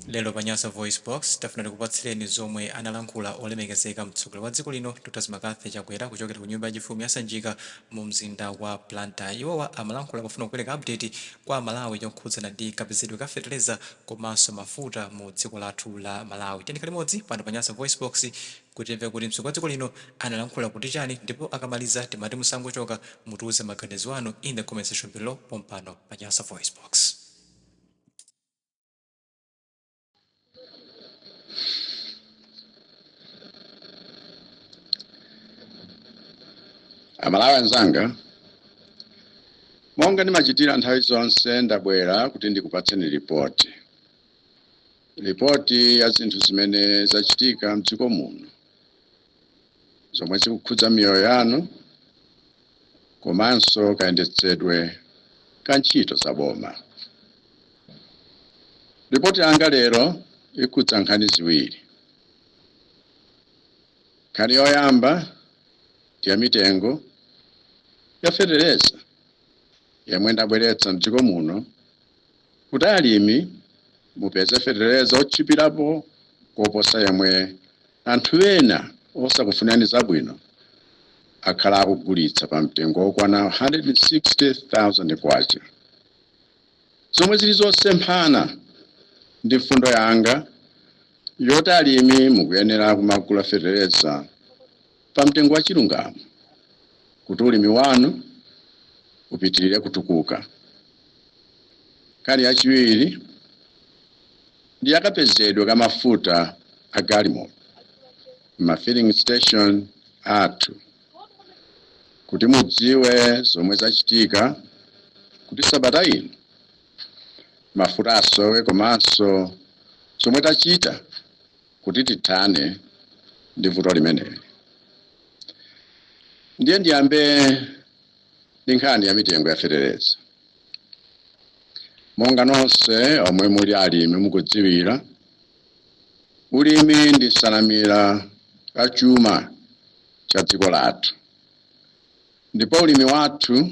Lero pa Nyasa VoiceBox, tafuna tikupatsireni zomwe analankhula olemekezeka mtsogoleri wa dziko lino Dr Lazarus McCarthy Chakwera kuchokera ku nyumba yachifumu ya Sanjika mu mzinda wa Blantyre. Iwowa amalankhula pofuna kupereka update kwa aMalawi yokhudzana ndi kapezedwe ka fetereza komanso mafuta mu dziko lathu la Malawi. Tiyeni tikhale limodzi pano pa Nyasa VoiceBox kuti timve kuti mtsogoleri wa dziko lino analankhula kuti chani ndipo akamaliza timati musangochoka mutiuze maganizo anu in the comment section below pompano pa Nyasa VoiceBox. amalawi anzanga monga ndimachitira nthawi zonse ndabwera kuti ndikupatseni ripoti ripoti ya zinthu zimene zachitika mdziko muno zomwe zikukhudza miyoyo yanu komanso kayendetsedwe ka ntchito za boma. Lipoti yanga lero ikhudza nkhani ziwiri. Nkhani yoyamba ndi ya mitengo ya fetereza yemwe ndabweretsa m'dziko muno Kuti alimi mupeze fetereza otchipirapo koposa yemwe anthu ena osakufunani zabwino akhala akugulitsa pa mtengo okwana K160,000, zomwe zili zosemphana ndi mfundo yanga yoti alimi mukuyenera kumagula fetereza pa mtengo wa chilungamo kuti ulimi wanu upitilire kutukuka. Nkhani yachiwiri ndi yakapezedwe ka mafuta a galimoto m'ma filling station athu kuti mudziwe zomwe zachitika kuti sabata ino mafuta asowe komanso zomwe tachita kuti tithane ndi vuto limeneli. Ndiye ndiyambe ndi nkhani ya mitengo ya fetereza. Monga nonse omwe muli alimi mukudziwira, ulimi ndi nsanamira ya chuma cha dziko lathu. Ndipo ulimi wathu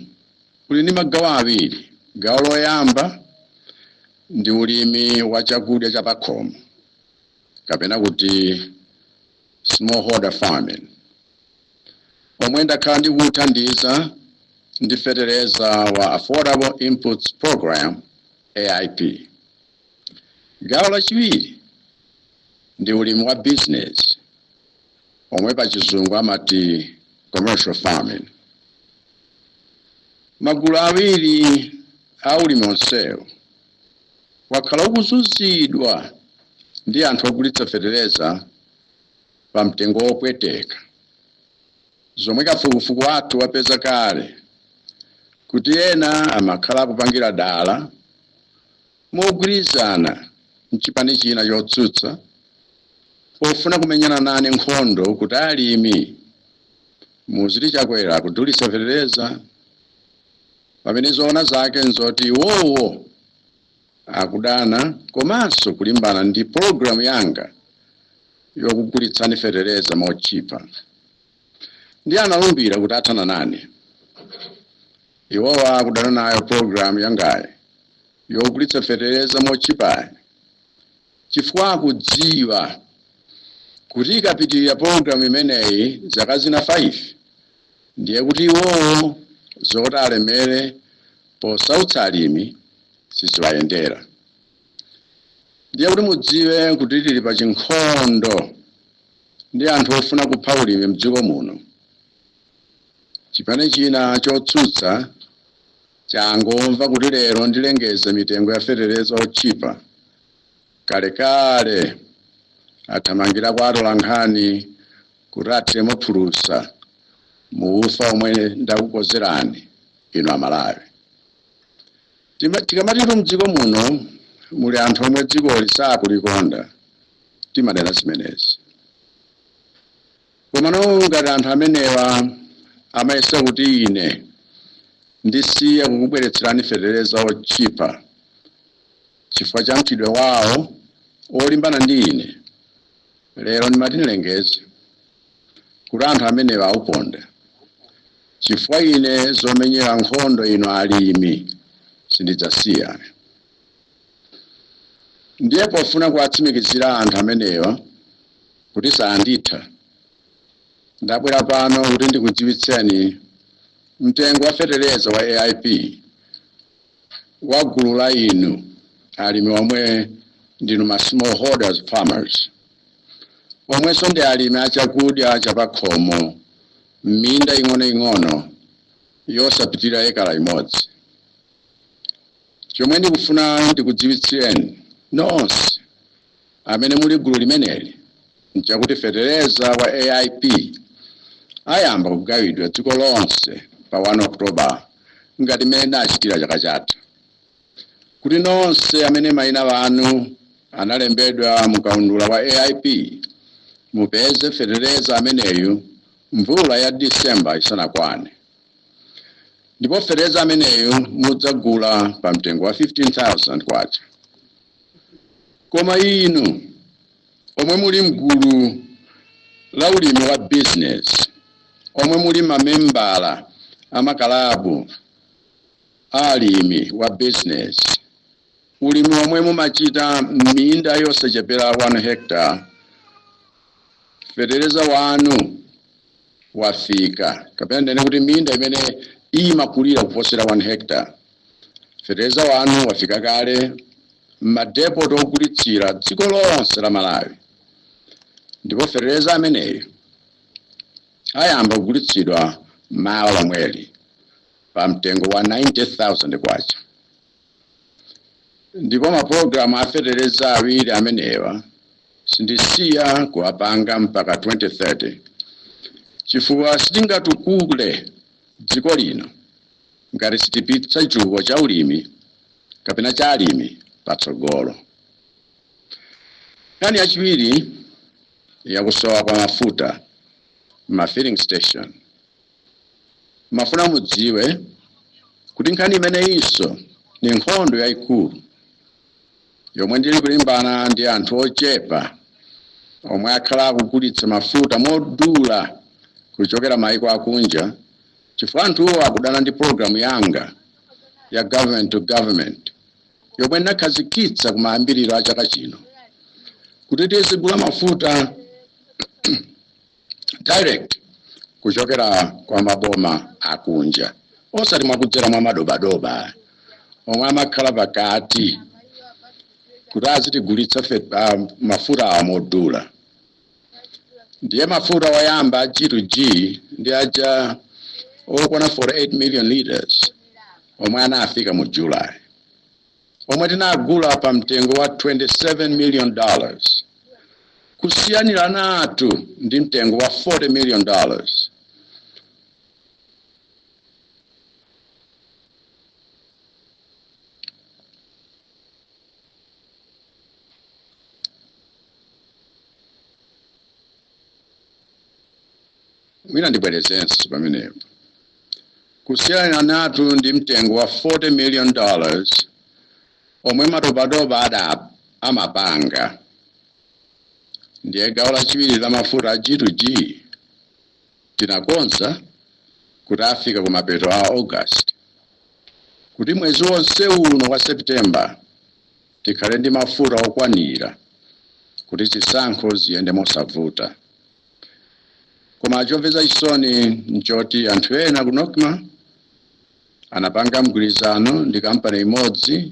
uli ndi magawo awiri. Gawo loyamba ndi ulimi wa chakudya cha pakhomo. kapena kuti smallholder farming omwe ndakhala ndikuwuthandiza ndi feteleza wa Affordable Inputs Program AIP. Gawo lachiwiri ndi ulimi wa bizinesi omwe pa chizungu amati commercial farming. Magulu awiri a ulimi onsewo wakhala ukuzunzidwa ndi anthu ogulitsa fetereza pa mtengo wopweteka, zomwe kafukufuku wathu wapeza kale kuti ena amakhala akupangira dala mogwirizana nchipani china chotsutsa pofuna kumenyana nane nkhondo kuti alimi muziti Chakwera akudulitsa fetereza. Pamene zoona zake n'zoti iwowo akudana komanso kulimbana ndi pologalamu yanga yokugulitsani fetereza motchipa. Ndiye analumbira kuti athana nane. Iwowo akudana nayo pologalamu yangayi yogulitsa fetereza motchipayi chifukwa akudziwa kuti ikapitirira pologalamu imeneyi zaka zina 5 ndiye kuti iwowo zoti alemere posautsa alimi siziwayendera. Ndiye kuti mudziwe kuti tili pa chinkhondo ndi anthu ofuna kupha ulimi mdziko muno. Chipani china chotsutsa Changomva kuti lero ndilengeze mitengo ya feteleza otchipa, kalekale athamangira kwa atolankhani kuti athiremo phulusa mu ufa omwe ndakukozerani inu Amalawi. Tikamatitu mdziko muno muli anthu omwe dzikoli sakulikonda timanena zimenezi. Komano ngati anthu amenewa amayesa kuti ine ndisiya kukubweretserani fetereza wotchipa chifukwa cha mchitidwe wawo wolimbana ndi ine, lero ndimati ndilengeze kuti anthu amenewa auponda chifukwa ine zomenyera nkhondo inu alimi sindidzasiya. Ndiye pofuna kuwatsimikizira anthu amenewa kuti saanditha, ndabwera pano kuti ndikudziwitseni mtengo wa fetereza wa AIP wa gulu la inu alimi omwe ndinu ma smallholders farmers omwenso ndi alimi a chakudya chapakhomo m'minda ing'onoing'ono yosapitirira ekala imodzi. Chomwe ndikufuna ndikudziwitsireni nonse amene muli gulu limeneli nchakuti fetereza wa AIP ayamba kugawidwa dziko lonse pa 1 October ngati mmene tinachitira chaka chatha. Kuti nonse amene maina awo analembedwa mu kaundula wa AIP mupeze fetereza ameneyu mvula ya December isanakwane. ndipo feteleza ameneyu mudzagula pa mtengo wa 15000 kwacha koma inu omwe muli mgulu la ulimi wa business omwe muli mamembala amakalabu a ulimi wa business ulimi omwe mumachita m'minda yosachepera 1 hectare feteleza wanu wafika, kapena ndinene kuti minda imene imakulira kuposera 1 hectare. Feteleza wanu wafika kale m'ma depot ogulitsira dziko lonse la Malawi ndipo feteleza ameneyo ayamba kugulitsidwa mawa lomweli pa mtengo wa K90,000. Ndipo mapulogalamu a feteleza awiri amenewa sindisiya kuwapanga mpaka 2030 chifukwa sitingatukule dziko lino ngati sitipitsa chitukuko cha ulimi kapena cha alimi patsogolo. Nkhani yachiwiri ya kusowa kwa mafuta mma filling station. Ndafuna mudziwe kuti nkhani imeneyinso ndi nkhondo yaikulu yomwe ndili kulimbana ndi anthu ochepa omwe akhala akugulitsa mafuta modula kuchokera maiko akunja chifukwa anthuwo akudana ndi programu yanga ya government to government yomwe ndinakhazikitsa kumayambiriro a chaka chino kuti tizigula mafuta direct kuchokera kwa maboma akunja osati mwakudzera mwa madobadoba omwe amakhala pakati kuti azitigulitsa mafuta amodula ndiye mafuta oyamba a g2g ndi aja okwana 48 million liters omwe anafika mu july omwe tinagula pa mtengo wa 27 million dollars kusiyaniranatu ndi mtengo wa 40 million dollars Mwina ndibwerezenso pamenepo. Kusiyaniranatu ndi mtengo wa 40 million dollars omwe madobadoba amapanga, ndiye gawo lachiwiri la mafuta a G to G tinakonza kuti afika kumapeto a August kuti mwezi wonse uno wa September tikhale ndi mafuta okwanira kuti zisankho ziyende mosavuta. koma chomvetsa chisoni nchoti anthu ena ku nocma anapanga mgwirizano ndi kampani imodzi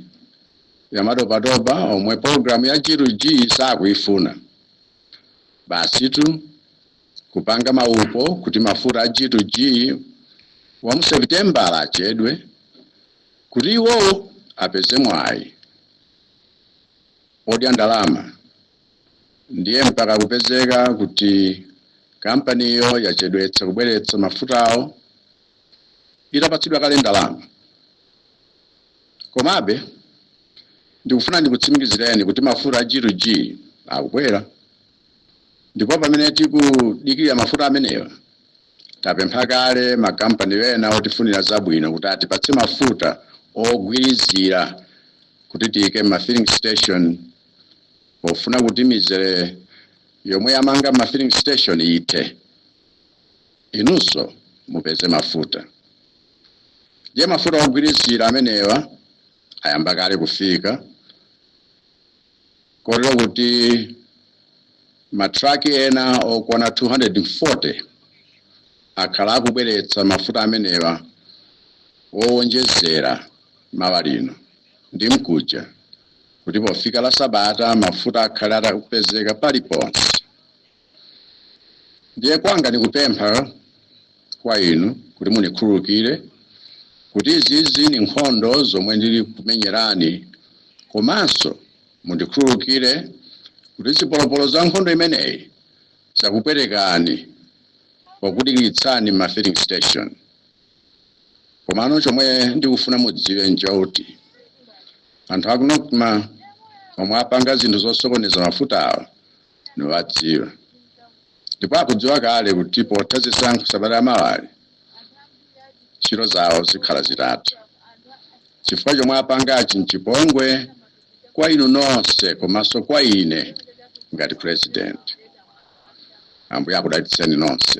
yamadobadoba omwe pologalamu ya g to g sakuifuna basitu kupanga maupo kuti mafuta a g to g wa mu sepitembala achedwe kuti iwowo apeze mwayi odya ndalama Ndiye mpaka kupezeka kuti kampaniyo yachedwetsa kubweretsa mafutawo itapatsidwa kale ndalama. Komabe, ndikufuna ndikutsimikizireni kuti mafuta a G to G akubwera. Ndipo pamene tikudikirira mafuta amenewa, tapempha kale makampani ena otifunira zabwino kuti atipatse mafuta ogwirizira kuti tiike m'ma filling station. pofuna kuti mizere yomwe yamanga ma filling station ithe inunso mupeze mafuta ndiye mafuta ogwirizira amenewa ayamba kale kufika kotero kuti matraki ena okwana 240 akhala akubweretsa mafuta amenewa owonjezera mawa lino ndi mkuja kuti pofika la sabata mafuta akhale atakupezeka paliponse ndiye kwanga nikupempha kwa inu kuti mundikhululukire kuti izizi ni nkhondo zomwe ndili kumenyerani komanso mundikhululukire kuti zipolopolo za nkhondo imeneyi zakupwetekani pokudikitsani ma filling station komano chomwe ndikufuna mudziwe nchoti anthu aku nocma omwe apanga zinthu zosokoneza mafuta awa niwadziwa ndipo akudziwa kale kuti potha zisankho sabata lamawali ntchito zawo zikhala zitatha chifukwa chomwe apangachi nchipongwe kwa inu nonse komanso kwa ine ngati president ambuye akudalitseni nonse